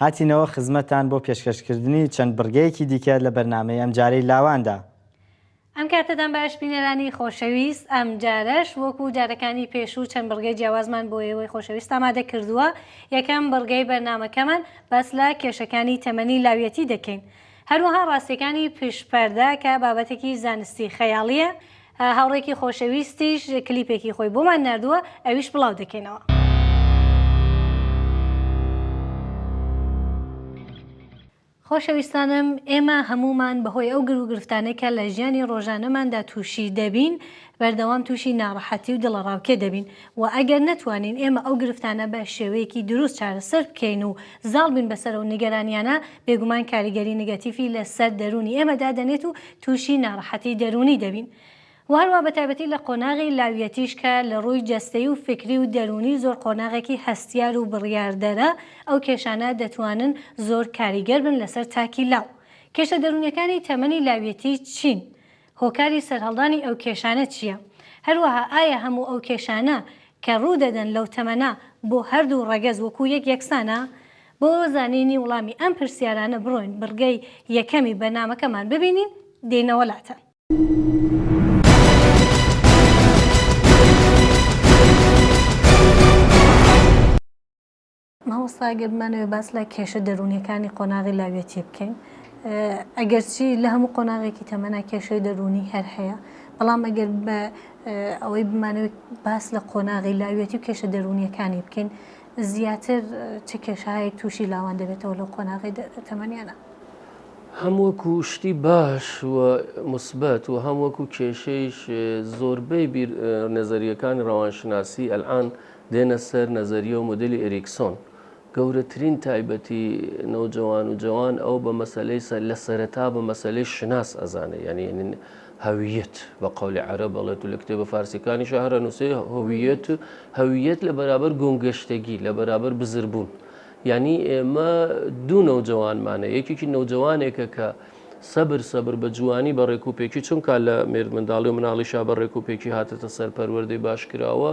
هاتینەوە خزمەتتان بۆ پێشکەشکردنی چەند بڕگەیەکی دیکە لە بەرنامەی ئەمجارەی لاواندا. ئەم کاتەتان باش بینەرانی خۆشەویست، ئەمجارەش وەکو جارەکانی پێشوو چەند بڕگەی جیاوازمان بۆ ئێوەی خۆشەویست ئامادە کردووە. یەکەم بڕگەی بەرنامەکەمان باس لە کێشەکانی تەمەنی لاویەتی دەکەین. هەروەها ڕاستیەکانی پشت پەردە کە بابەتێکی زانستی خەیاڵیە. هاوڕێکی خۆشەویستیش کلیپێکی خۆی بۆمان نردووە ئەویش بڵاو دەکەینەوە. خۆشەویستانم ئێمە هەمومان بەهۆی ئەو گرو گرفتانەی کە لە ژیانی ڕۆژانەماندا تووشی دەبین بەردەوام تووشی ناڕەحەتی و دڵەڕاوکێ دەبین و ئەگەر نەتوانین ئێمە ئەو گرفتانە بە شێوەیەکی دروست چارەسەر بکەین و زاڵ بین بەسەر ئەو نیگەرانیانە بێگومان کاریگەری نگەتیفی لە سەر دەروونی ئێمە دادەنێت و تووشی نارەحەتی دەروونی دەبین و هەروەها بە تایبەتی لە قۆناغی لاویەتیش کە لە ڕووی جەستەیی و فیکری و دەروونی زۆر قۆناغێکی هەستیار و بڕیاردەرە ئەو کێشانە دەتوانن زۆر کاریگەر بن لەسەر تاکی لاو کێشە دەروونیەکانی تەمەنی لاویەتی چین هۆکاری سەرهەڵدانی ئەو کێشانە چییە؟ هەروەها ئایا هەموو ئەو کێشانە کە ڕوو دەدەن لەو تەمەنە بۆ هەردوو ڕەگەز وەکوو یەک یەکسانە؟ بۆ زانینی وڵامی ئەم پرسیارانە بڕۆین بڕگەی یەکەمی بەرنامەکەمان ببینین، دێینەوە لاتان. مامۆستا گەر بمانەوێ باس لە کێشە دەروونیەکانی قۆناغی لاویەتی بکەین ئەگەرچی لە هەموو قۆناغێکی تەمەنا کێشەی دەروونی هەر هەیە بەڵام ئەگەر بە ئەوەی بمانەوێت باس لە قۆناغی لاویەتی و کێشە دەروونیەکانی بکەین زیاتر چ کێشایەک تووشی لاوان دەبێتەوە لە قۆناغی تەمەنیانە هەم وەکو شتی باش و مثبت و هەم وەکو کێشەیش زۆربەی نەزەریەکانی ڕەوانشناسی ئەلان دێنە سەر نەزەریە و مودێلی ئیریکسۆن، گەورەترین تایبەتی نەوجەوان و جەوان ئەو بە مەسەلەی سە لە سەرەتا بە مەسەلەی شناس ئەزانێ یانی نن هەویەت بە قەولی عەرەب ئەڵێت و لە کتێبە فارسیەکانیشا هەر ئەنووسێ هویەت هەویەت لە بەرابەر گۆمگەشتەگی لە بەرابەر بزربوون یانی ئێمە دوو نەوجەوانمانە یەکێکی نەوجەوانێکە کە سەبر سەبر بە جوانی بە ڕێکوپێکی چونکە لە مێردمنداڵی و مناڵیشا بە ڕێکوپێکی هاتەتە سەر پەروەردەی باشکراوە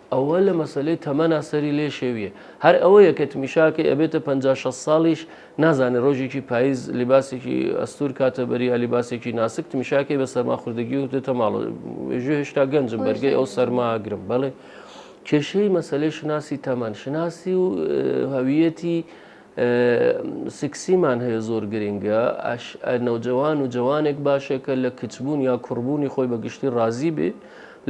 ئەوە لە مەسەلەی تەمەنا سەری لێ شێویە هەر ئەوەیە کە تمیشاکەی ئەبێتە پەنجا شەست ساڵیش نازانێ ڕۆژێکی پایز لیباسێکی ئەستور کاتە بەری یا لیباسێکی ناسک تمیشاکەی بە سەرماخوردگی و دێتە ماڵە ژێ هێشتا گەنجم بەرگەی ئەو سەرماگرم بەڵێ کێشەی مەسلەی شناسی تەمەن شناسی و هەویەتی سکسیمان هەیە زۆر گرینگە ئەش ئە نەوجەوان و جەوانێک باشە کە لە کچبوون یا کوڕبوونی خۆی بە گشتی ڕازی بێ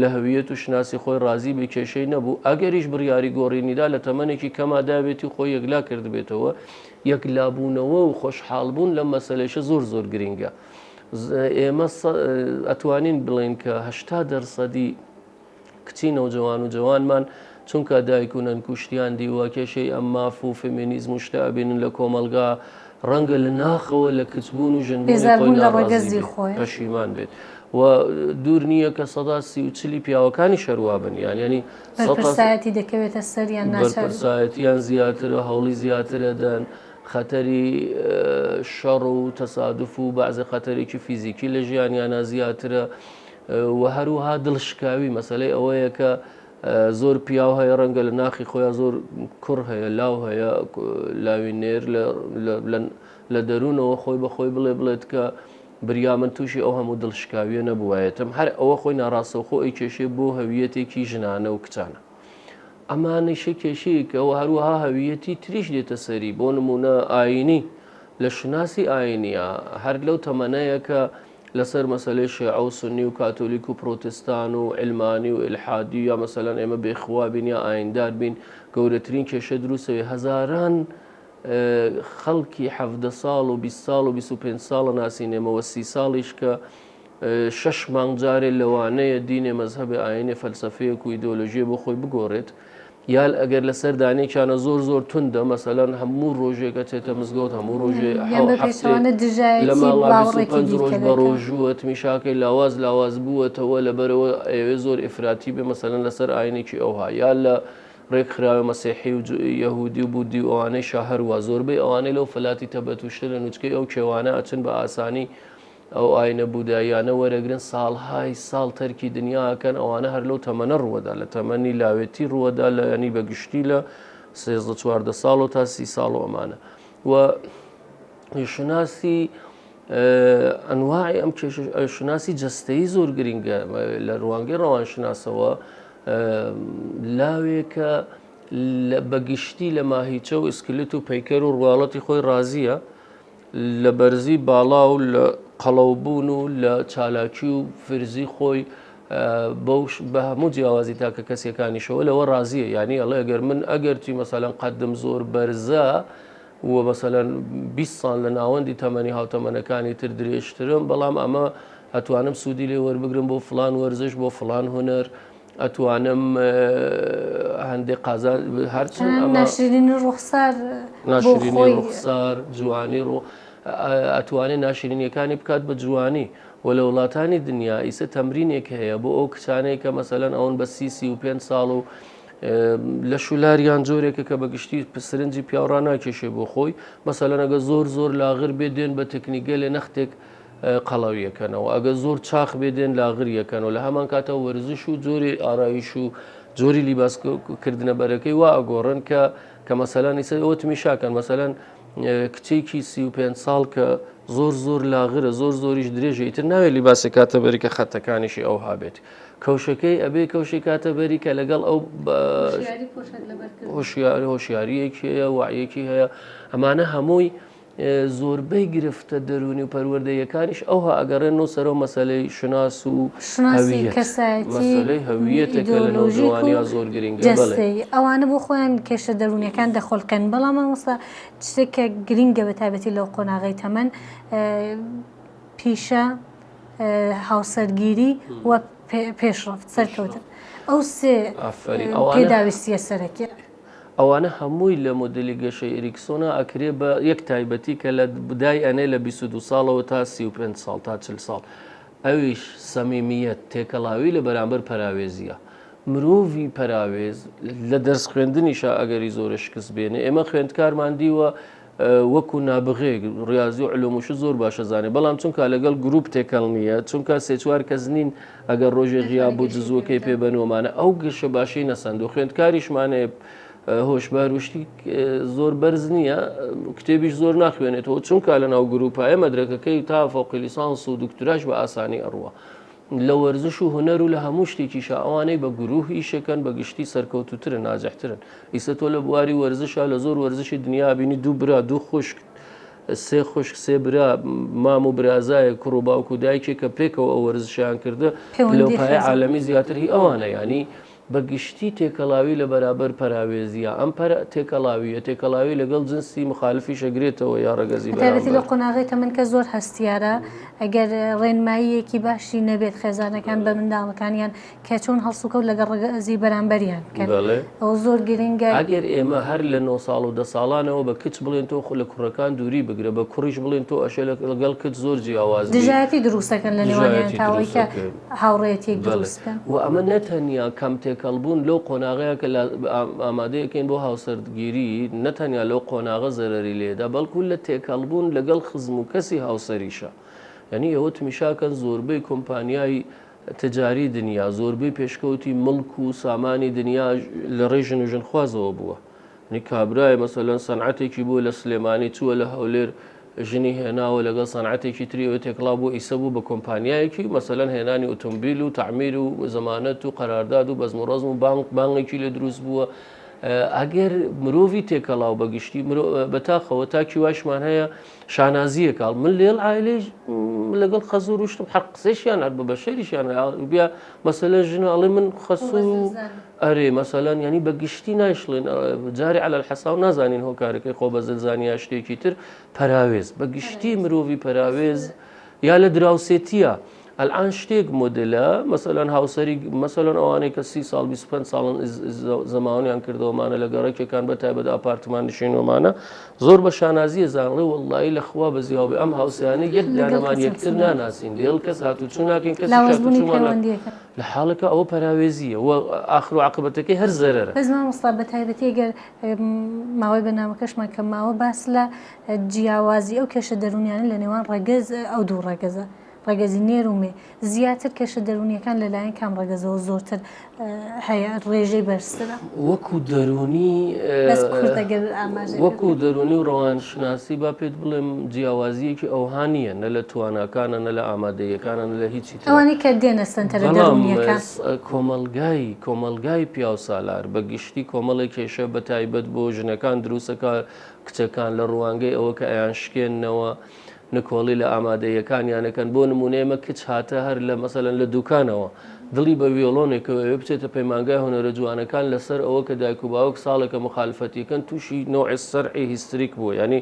لە هەویەت و شناسی خۆی ڕازی بێ کێشەی نەبوو ئەگەریش بڕیاری گۆڕینیدا لە تەمەنێکی کەما دابێتی خۆی یەکلا کردبێتەوە یەکلابوونەوە و خۆشحاڵبوون لەم مەسلەیشە زۆر زۆر گرینگە ئێمە ئەتوانین بڵێن کە هەشتا دەرسەدی کچی نەوجەوان و جەوانمان چونکا دایک و نەن کوشتیان دیوە کێشەی ئەم ماف و فێمێنیزم و شتە ئەبینن لە کۆمەڵگا ڕەنگە لە ناخەوە لە کچ بوون و ژن بوونی خۆی ناڕازی بێت پەشیمان بێت و دوور نییە کە سەدا سی و چلی پیاوەکانیش هەر وا بن یان یانی بەرپرسایەتی دەکەوێتە سەر یان ناچار بەرپرسایەتیان زیاترە هەوڵی زیاتر ئەدەن خەتەری شەڕ و تەسادف و بەعزێ خەتەرێکی فیزیکی لە ژیانیانا زیاترە وە هەروها دڵ شکاوی مەسەلەی ئەوەیە کە زۆر پیاو هەیە ڕەنگە لە ناخی خۆیان زۆر کوڕ هەیە لاو هەیە لاوی نێر لە دەروونەوە خۆی بەخۆی بڵێ بڵێت کە بریا من تووشی ئەو هەموو دڵ شکاویە نەبووایەتم هەر ئەوە خۆی ناڕاستەوخۆ ئەی کێشێ بۆ هەویەتێکی ژنانە و کچانە ئەمانیشە کێشەیەکەوە هەروەها هەویەتی تریش دێتە سەری بۆ نمونە ئاینی لە شناسی ئاینە هەر لەو تەمەنەیە کە لەسەر مەسەلەی شێعە و سوننی و کاتۆلیک و پرۆتستان و عەلمانی و ئیلحادی و یا مەسەلەن ئێمە بێ خوا بین یا ئایندار بین گەورەترین کێشە دروست ئەوێ هەزاران خەڵکی حەڤدە ساڵ و بیست ساڵ و بیست و پێنج ساڵە ناسینێمەوە سی ساڵیش کە شەش مانگ جارێ لەوانەیە دینێ مەزهەبێ ئاینێ فەلسەفەیەک و ئیدۆلۆژیە بۆ خۆی بگۆڕێت یان ئەگەر لەسەر دانێکیانە زۆر زۆر توندە مەسەلەن هەموو ڕۆژێک ئەچێتە مزگەوت هەموو ڕۆژێ لە ماوەڕ بە ڕۆژووە تمیشاکەی لاواز لاواز بووەتەوە لەبەرەوە ئەوێ زۆر ئفراتی بێ مەسەلەن لەسەر ئاینێکی ئەوها یا لە ڕێکخراوە مەسیحی و یەهودی و بودی و ئەوانەی شەهروا زۆربەی ئەوانەی لەو فلاتی تەبەتوشتە لە نوچکەی ئەو کێوانە ئەچن بە ئاسانی ئەو ئاینە بوداییانە وەرەگرن ساڵهای ساڵ تەرکی دنیا ئەکەن ئەوانە هەر لەو تەمەنە ڕووەدا لە تەمەنی لاوێتی ڕووەدا لە ینی بە گشتی لە سێزدە چواردە ساڵەوە تا سی ساڵ و ئەمانە و شناسی ئەنواعی ئەم شناسی جستەی زۆر گرنگە لە ڕوانگەی ڕەوانشناسەوە لاوێکە بەگشتی لە ماهیچە و ئسکلت و پەیکەر و ڕواڵەتی خۆی ڕازیە لە بەرزی باڵا و لە قەڵەوبوون و لە چالاکی و فرزی خۆی بەو بە هەموو جیاوازی تاکە کەسیەکانیشەوە لەوە ڕازیە یعنی ئەڵێ ئەگەر من ئەگەرچی مەسەلەن قەدم زۆر بەرزە و مەسەلەن 20 ساڵ لە ناوەندی تەمەنی هاوتەمەنەکانی تر درێژترم بەڵام ئەمە ئەتوانم سوودی لێ وەربگرم بۆ فلان وەرزش بۆ فلان هونەر ئەتوانم هەندێک قازان هەرچن ناشرین ڕوخسار ناشرین ڕوخسار جوانی ڕوو ئەتوانێت ناشرینیەکانی بکات بە جوانی و لە وڵاتانی دنیا ئیسە تەمرینێک هەیە بۆ ئەو کچانەیە کە مەسەلەن ئەوەن بە سیسی و پێ ساڵ و لە شولاریان جۆرێکە کە بە گشتی پسرنجی پیاڕان ناکێشێ بۆ خۆی مەسەلەنەگە زۆر زۆر لاغر بێ دێن بە تەکنیگە لێ نەختێک قەڵەوی یەکەنەوە ئەگەر زۆر چاخ بێ دێن لاغر یەکەنەوە لە هەمان کاتە وەرزش و جۆری ئارایش و جۆری لیباس کردنە بەرەکەی وا ئەگۆڕن کە کە مەسەلانی سەر ئەوە تمیشاکەن مەسەلەن کچێکی سی و پێ ساڵ کە زۆر زۆر لاغرە زۆر زۆریش درێژی تر ناوێت لیباسە کاتە بەری کە خەتەکانیشی ئەو هابێت کەوشەکەی ئەبێ کەوشی کاتە بەری کە لەگەڵ ئەو هۆشیاری هۆشیاریەکی هەیە وعەکی هەیە ئەمانە هەمووی زۆربەی گرفتە دەروونی و پەروەردەییەکانیش ئەوها ئەگەڕێنەوە سەرەوە مەسەلەی شوناس و شوناسی کەسایەتی مەسەلەی هەوییەتە کە لە نەوجەوانیا زۆر گرینگە بەڵێ مەسەلەی هەوییەت و جەستەیی ئەوانە بۆ خۆیان کێشە دەروونیەکان دەخولقێن بەڵام مامۆستا شتێک کە گرینگە بە تایبەتی لەو قۆناغەی تەمەن پیشە هاوسەرگیری و پێشڕەفت سەرکەوتن ئەو سێ ئافەرین ئەوانە پێداویستییە سەرەکیە. ئەوانە هەمووی لە مۆدێلی گەشەی ئێریکسۆنا ئەکرێ بە یەک تایبەتی کە لە دای ئەنێ لە بیست و دوو ساڵەوە تا سی و پێنج ساڵ تا چل ساڵ ئەویش سەمیمیەت تێکەڵاوی لە بەرامبەر پەراوێزیە مرۆڤی پەراوێز لە دەرس خوێندنیشا ئەگەری زۆرە شکست بێنێ ئێمە خوێندکارمان دیوە وەکو نابغەیەک ڕیازی و علوم و شت زۆر باش ئەزانێ بەڵام چونکا لەگەڵ گروپ تێکەڵ نییە چونکا سێ چوار کەس نین ئەگەر ڕۆژێ غیاب بوو دزووەکەی پێ بەنۆمانە ئەو گەشە باشەی نەسەند و خوێندکاریشمانێ هۆشبار وشتی زۆر بەرز نییە کتێبیش زۆر ناخوێنێتەوە چونکە لە ناو گروپایە مەدرەکەکەی تا فەوقلیسانس و دکتراش بە ئاسانی ئەڕوە لە وەرزش و هونەر و لە هەموو شتێکیشا ئەوانەی بە گروه ئیشەکەن بە گشتی سەرکەوتووترن ناجحترن ئیسە تۆ لە بواری وەرزشا لە زۆر وەرزشی دنیا ئەبینی دوو برا دوو خوشک سێ خوشک سێ برا مام و برازایەک کوڕ و باوک و دایکێک کە پێکەوە ئەو وەرزشیان کردە پلەو پایە عالەمی زیاتر هی ئەوانە یانی بە گشتی تێکەڵاوی لە بەرابەر پەراوێزییە، ئەم پەر تێکەڵاوییە تێکەڵاوی لەگەڵ جنسی مخالفیش ئەگرێتەوە یا ڕەگەزی بەرامبەر. بەتایبەتی لەو قۆناغەی تەمەن کە زۆر هەستیارە ئەگەر ڕێنماییەکی باشی نەبێت خێزانەکان بە منداڵەکانیان کە چۆن هەڵسوکەوت لەگەڵ ڕەگەزی بەرامبەریان بکەن ئەوە زۆر گرنگە. ئەگەر ئێمە هەر لە نۆ ساڵ و دە ساڵانەوە بە کچ بڵێن تۆ خۆ لە کوڕەکان دووری بگرە، بە کوڕیش بڵێن تۆ ئەشێ لەگەڵ کچ زۆر جیاواز بیت، دژایەتی دروست دەکەن لە نێوانیان تا ئەوەی کە. هاوڕێیەتیەک دروست بکەن. و ئەمە نەتەنیا کەمتێکەڵبوون لەو قۆناغەیە کە ئامادەیەکەین بۆ هاوسەرگیری، نەتەنیا لەو قۆناغە زەرەری لێدە، بەڵکو لە تێکەڵبوون لەگەڵ خزم و کەسی هاوسەریشە. یانی ئێوە تمیشاکەن زۆربەی کۆمپانیای تجاری دنیا، زۆربەی پێشکەوتی مڵک و سامانی دنیا لەڕێی ژن و ژنخوازەوە بووە. ی کابرایە مەسەلەن سەنعەتێکی بوو لە سلێمانی چووە لە هەولێر ژنی هێناوە لەگەڵ سەنعەتێکی تری ئەوێ تێکڵاو بوو ئیسە بوو بە کۆمپانیایەکی مەسەلەن هێنانی ئوتومبیل و تەعمیر و زەمانەت و قەرارداد و بەزم و ڕەزم و بانک بانگێکی لێ دروست بووە ئەگەر مرۆڤی تێکەڵاو بە گشتی بەتاقەوە تاکی وایشمان هەیە شانازیە کاڵ من لێڵ ئایلی لەگەڵ خەزوو روشتم حەق قسەشیان هەر بە بەشەریشیان بیا مەسەلە ژنە ئەڵێ من خەسوو ئەرێ مەسەلەن یانی بە گشتی نایشڵێن جارێ على الحساو نازانین هۆکارەکەی خۆ بە زلزانی یا شتێکی تر پەراوێز بە گشتی مرۆڤی پەراوێز یا لە دراوسێتیە ئەلان شتێک مدلە مەسەلەن هاوسری مەسەلەن ئەوانەی کە سی ساڵ 25 ساڵن زمانیان کردەوەمانە لە گەڕەکێکان بە تایبەت ئاپارتمان نشینۆمانە زۆر بە شانازیە زانڵێ وڵی لە خوا بە زیاوێ ئەم هاوسیانە یەک دانەمان یەکتر ناناسین دێڵ کەس هاتوچوو ناکەین کەس لە حاڵێکا ئەوە پەراوێزییە و ئاخر و عاقبەتەکەی هەر زەرەرە. بەس مامۆستا بەتایبەتی گەر ماوەی بەرنامەکەشمان کەم ماوە باس لە جیاوازی ئەو کێشە دەروونیانە لە نێوان ڕەگەز ئەو دوو ڕەگەزە ڕەگەزی نێر و مێ زیاتر کێشە دەروونیەکان لە لایەن کام ڕەگەزەوە زۆرتر هەیە ڕێژەی بەرزترە وەکو دەروونی بەس کوردە گەر ئاماژەی وەکو دەروونی و ڕەوانشناسی با پێت بڵێم جیاوازیەکی ئەوها نییە نە لە تواناکانە نە لە ئامادەییەکانە نە لە هیچ ئەوانەی کە دێنە سەنتەرە دەروونییەکان. بەڵام کۆمەڵگای کۆمەڵگای پیاوسالار بە گشتی کۆمەڵێک کێشە بە تایبەت بۆ ژنەکان دروست دەکات، کچەکان لە ڕوانگەی ئەوە کە ئەیانشکێننەوە نکۆڵی لە ئامادەییەکانیان ئەکەن، بۆ نموونە ئێمە کچ هاتە هەر لە مەسەلەن لە دووکانەوە دڵی بە ویۆڵۆنێکەوە ئەوێ بچێتە پەیمانگای هونەرە جوانەکان لەسەر ئەوە کە دایک و باوک ساڵێکە موخالفەتی ئەکەن تووشی نوعی صرع هیستریک بووە یانی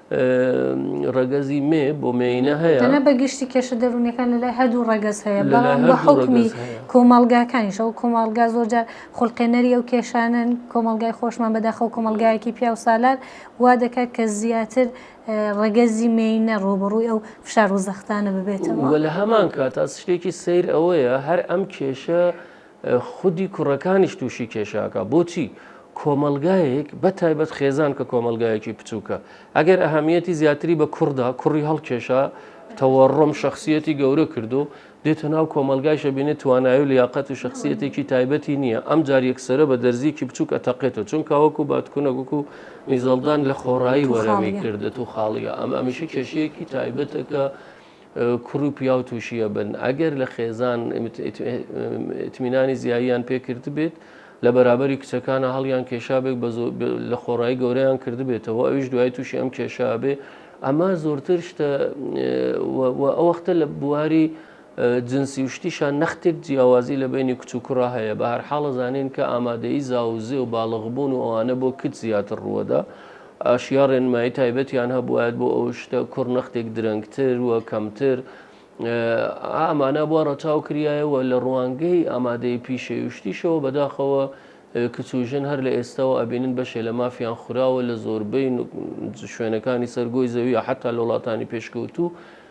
ڕەگەزی مێ بۆ مێینە هەیە تەنە بە گشتی کێشە دەروونەکان لە لای هەردوو ڕەگەز هەیە لە لای بەڵام بە هەردوو حکمی ڕەگەز هەیە. کۆمەڵگاکانیش ئەو کۆمەڵگا زۆرجار خولقێنەری ئەو کێشانەن کۆمەڵگای خۆشمان بەداخەوە کۆمەڵگایەکی پیاو سالار وا دەکات کە زیاتر اه، ڕەگەزی مێینە ڕووبەڕووی ئەو فشار و زەختانە ببێتەوە و لە هەمان کات ئەس شتێکی سەیر ئەوەیە هەر ئەم کێشە خودی کوڕەکانیش تووشی کێشاکە بۆچی کۆمەلگایەک بە تایبەت خێزان کە کۆمەلگایەکی بچووکە ئەگەر ئەهمیەتی زیاتری بە کوڕدا کوڕی هەڵکێشا تەوەڕۆم شخصیەتی گەورە کردو دێتە ناو کۆمەلگایشە بینێت توانای و لیاقەت و شخصیەتێکی تایبەتی نییە ئەم جار یەکسرە بە دەرزیکی بچووک ئەتەقێتەوە چونکە وەکو باتکونەگوک و میزەڵدان لە خۆڕایی وەرەمی کردێت و خاڵیە ئەم ئەمیشە کێشەیەکی تایبەتەکە کوڕ و پیاو تووشی ئەبن ئەگەر لە خێزان ئیتمینانی زیاییان پێکردبێت لە بەرابەری کچەکانە هەڵیان کێشابێک لە خۆڕایی گەورەیان کردبێتەوە ئەویش دوای تووشی ئەم کێشابێ ئەمە زۆرتر شتە ئەوەختە لە بواری جنسی و شتیشان نەختێک جیاوازی لە بینی کچ و کوڕە هەیە بە هەرحاڵە زانین کە ئامادەی زاوزێ و باڵغبوون و ئەوانە بۆ کچ زیاتر ڕووەدا ئاشیا ڕێنمایی تایبەتیان هەبوایەت بۆ ئەو شتە کوڕ نەختێک درەنگتر و کەمتر ئامانە بۆ ڕەچاو کریایەوە لە ڕوانگەی ئامادەی پیشەیشتیشەوە بەداخەوە کچ و ژن هەر لە ئێستاوە ئەبینن بەشێ لە مافیان خوراوە لە زۆربەی شوێنەکانی سەر گۆی زەویە حتا لە وڵاتانی پێشکەوتوو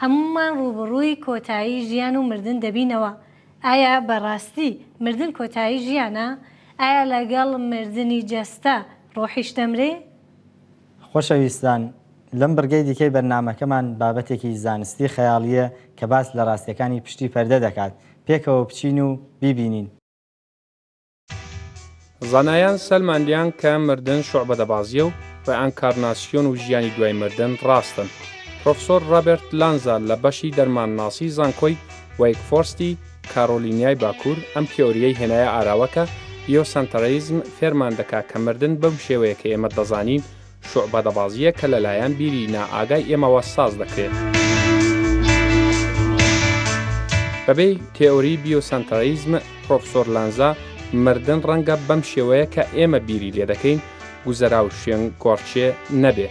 هەموومان ڕووبەڕووی کۆتایی ژیان و مردن دەبینەوە، ئایا بە ڕاستی مردن کۆتایی ژیانە؟ ئایا لەگەڵ مردنی جەستە ڕۆحیش دەمرێ؟ خۆشەویستان، لەم بڕگەی دیکەی بەرنامەکەمان بابەتێکی زانستی خەیاڵییە کە باس لە ڕاستیەکانی پشتی پەردە دەکات، پێکەوە بچین و بیبینین. زانایان سەلماندیان کە مردن شوعبەدەبازیە و ڕێئانکارناسیۆن و ژیانی دوای مردن ڕاستن. پرۆفسۆر ڕابێرت لانزا لە بەشی دەرمانناسی زانکۆی وەیک فۆرستی کارۆلینیای باکوور ئەم تیۆریەی هێنایە ئاراوە کە بیۆسەنتەریزم فێرمان دەکا کە مردن بەم شێوەیە کە ئێمە دەزانین شوعبەدەبازییەک کە لەلایەن بیری نائاگای ئێمەوە ساز دەکرێت. بەپێی تێئۆریی بیۆسەنتەڕیزم، پڕۆفسۆر لانزا، مردن ڕەنگە بەم شێوەیە کە ئێمە بیری لێ دەکەین، گوزەرا و شوێنگۆڕکێ، نەبێ.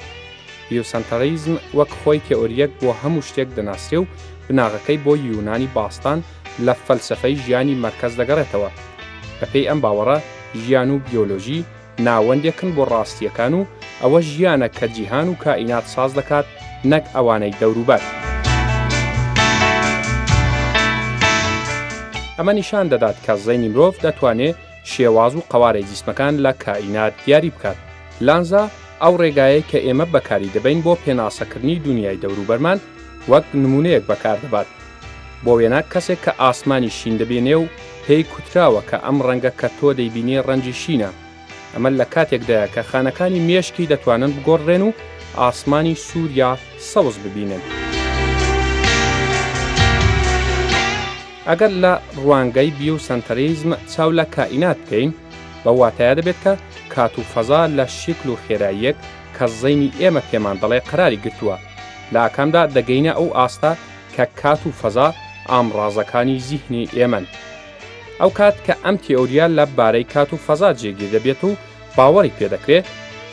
بیۆسەنتەڕیزم وەک خۆی تێئۆرییەک بۆ هەموو شتێک دەناسرێ و بناغەکەی بۆ یونانی باستان لە فەلسەفەی ژیانی مەرکەز دەگەڕێتەوە. بەپێی ئەم باوەڕە، ژیان و بیۆلۆژی ناوەندێکن بۆ ڕاستییەکان و ئەوە ژیانە کە جیهان و کائینات ساز دەکات نەک ئەوانەی دەوروبەر. ئەمە نیشان دەدات کە زەینی مرۆڤ دەتوانێ شێواز و قەوارەی جیسمەکان لە کائینات دیاری بکات. لانزا، ئەو ڕێگایەی کە ئێمە بەکاری دەبەین بۆ پێناسەکردنی دونیای دەوروبەرمان، وەک نموونەیەک بەکاردەبات، بۆ وێنە کەسێک کە ئاسمانی شین دەبینێ و پێی کوتراوە کە ئەم ڕەنگە کە تۆ دەیبینی ڕەنجی شینە، ئەمە لە کاتێکدایە کە خانەکانی مێشکی دەتوانن بگۆڕدرێن و ئاسمانی سوور یا سەوز ببینن. ئەگەر لە ڕوانگەی بیوسەنتەریزم چاو لە کائینات بکەین، بەو واتایە دەبێت کە کات و فەزا لە شکل و خێراییەک کە زەینی ئێمە پێمان دەڵێ قەراری گرتووە، لە ئاکامدا دەگەینە ئەو ئاستە کە کات و فەزا ئامڕازەکانی زیهنی ئێمەن. ئەو کات کە ئەم تێئۆریا لە بارەی کات و فەزا جێگیر دەبێت و باوەڕی پێ دەکرێ،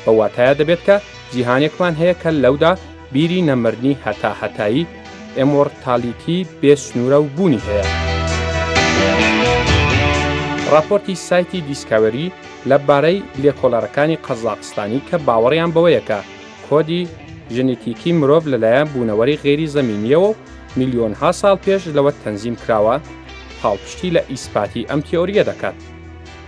بەو واتایە دەبێت کە جیهانێکمان هەیە کە لەودا بیری نەمردنی هەتا هەتایی، ئێمۆڕتالیتی، بێ سنوورە و بوونی هەیە. ڕاپۆرتی سایتی دیسکاوەری لە بارەی لێکۆڵەرەکانی قەزاقستانی کە باوەڕیان بەوەیە کە کۆدی ژنیتیکی مرۆڤ لەلایەن بوونەوەری غەیری زەمینییەوە و میلیۆنها ساڵ پێش لەوە تەنزیم کراوە، پاڵپشتی لە ئیسپاتی ئەم تیۆرییە دەکات.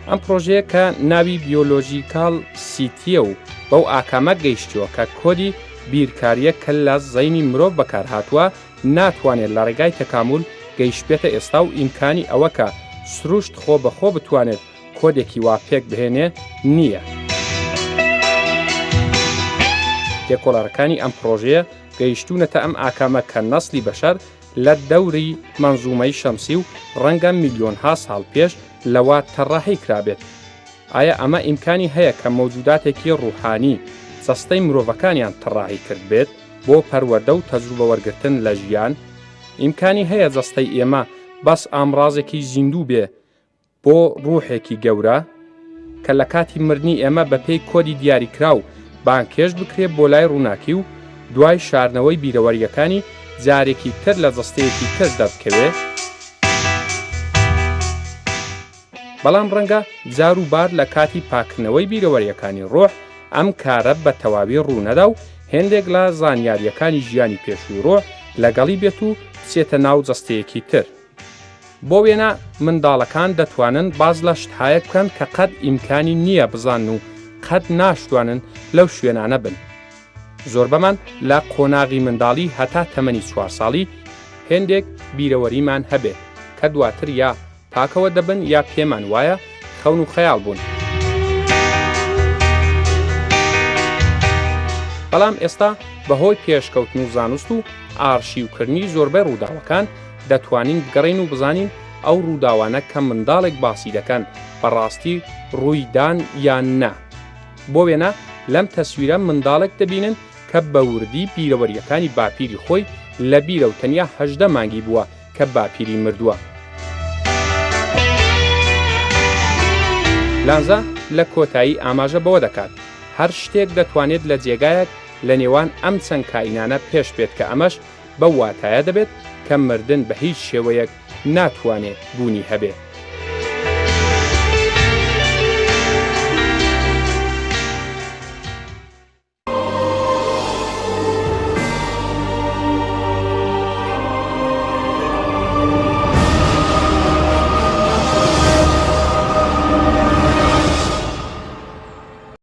ئەم پرۆژەیە کە ناوی بیۆلۆژیکاڵ سیتیە و بەو ئاکامە گەیشتووە کە کۆدی بیرکاریە کە لە زەینی مرۆڤ بەکارهاتووە ناتوانێت لە ڕێگای تەکامول گەیشتبێتە ئێستا و ئیمکانی ئەوە کە سروشت خۆ بە خۆ بتوانێت کۆدێکی وا پێک بهێنێ نییە. لێکۆڵەرەکانی ئەم پرۆژەیە گەیشتوونەتە ئەم ئاکامە کە نەسلی بەشەر لە دەوری مەنزومەی شەمسی و ڕەنگە میلیۆنها ساڵ پێش لەوە تەڕەحی کرابێت. ئایا ئەمە ئیمکانی هەیە کە مەوجوداتێکی ڕوحانی جەستەی مرۆڤەکانیان تەڕەحی کردبێت بۆ پەروەردە و تەجروبە وەرگرتن لە ژیان؟ ئیمکانی هەیە جەستەی ئێمە بەس ئامڕازێکی زیندوو بێ بۆ ڕوحێکی گەورە کە لە کاتی مردنی ئێمە بە پێی کۆدی دیاریکراو بانگهێشت بکرێت بۆ لای ڕووناکی و دوای شاردنەوەی بیرەوەرییەکانی جارێکی تر لە جەستەیەکی تر دەربکەوێت، بەڵام ڕەنگە جار و بار لە کاتی پاککردنەوەی بیرەوەرییەکانی ڕوح ئەم کارە بە تەواوی ڕوو نەدا و هێندێک لە زانیارییەکانی ژیانی پێشووی ڕوح لەگەڵی بێت و بچێتە ناو جەستەیەکی تر. بۆ وێنە منداڵەکان دەتوانن باس لە شتهایەک بکەن کە قەت ئیمکانی نییە بزانن و قەت ناشتوانن لەو شوێنانە بن. زۆربەمان لە قۆناغی منداڵی هەتا تەمەنی چوار ساڵی هێندێک بیرەوەریمان هەبێت کە دواتر یا پاکەوە دەبن یا پێمان وایە خەون و خەیاڵ بوون. بەڵام ئێستا بە هۆی پێشکەوتن و زانست و ئارشیوکردنی زۆربەی ڕووداوەکان، دەتوانین بگەڕێین و بزانین ئەو ڕووداوانە کە منداڵێک باسی دەکەن بە ڕاستی ڕووی دان یان نا. بۆ وێنە لەم تەسویرە منداڵێک دەبینن کە بە وردی بیرەوەرییەکانی باپیری خۆی لە بیرە و تەنیا هەژدە مانگی بووە کە باپیری مردووە. لانزا لە کۆتایی ئاماژە بەوە دەکات، هەر شتێک دەتوانێت لە جێگایەک لە نێوان ئەم چەند کائینانە پێش بێت کە ئەمەش بەو واتایە دەبێت کە مردن بە هیچ شێوەیەک ناتوانێ بوونی هەبێ.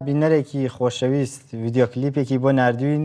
بینەرێکی خۆشەویست ڤیدیۆ کلیپێکی بۆ ناردووین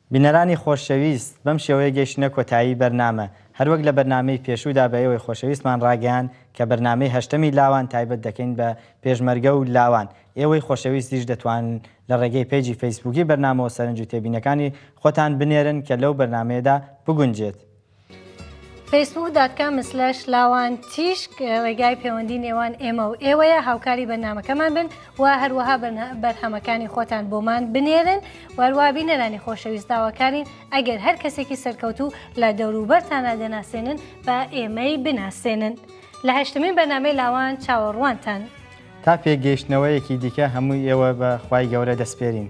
بینەرانی خۆشەویست، بەم شێوەیە گەیشتینە کۆتایی بەرنامە، هەروەک لە بەرنامەی پێشوودا بە ئێوەی خۆشەویستمان ڕاگەیاند کە بەرنامەی هەشتەمی لاوان تایبەت دەکەین بە پێشمەرگە و لاوان، ئێوەی خۆشەویستیش دەتوانن لە ڕێگەی پەیجی فەیسبووکی بەرنامەوە سەرنج و تێبینەکانی خۆتان بنێرن کە لەو بەرنامەیەدا بگونجێت. فەیسبووک دات کام سلەش لاوان تیشک ڕێگای پەیوەندی نێوان ئێمە و ئێوەیە هاوکاری بەنامەکەمان بن و هەروەها بەرهەمەکانی خۆتان بۆمان بنێرن وەروە بینەرانی خۆشەویست داواکارین ئەگەر هەر کەسێکی سەرکەوتو لە دەوروبەرتانە دەناسێنن بە ئێمەی بناسێنن لە هەشتمین بەنامەی لاوان چاوەڕوانتان. تا پێگەیشتنەوەیەکی دیکە هەمووی ئێوە بە خوای گەورە دەسپێرین.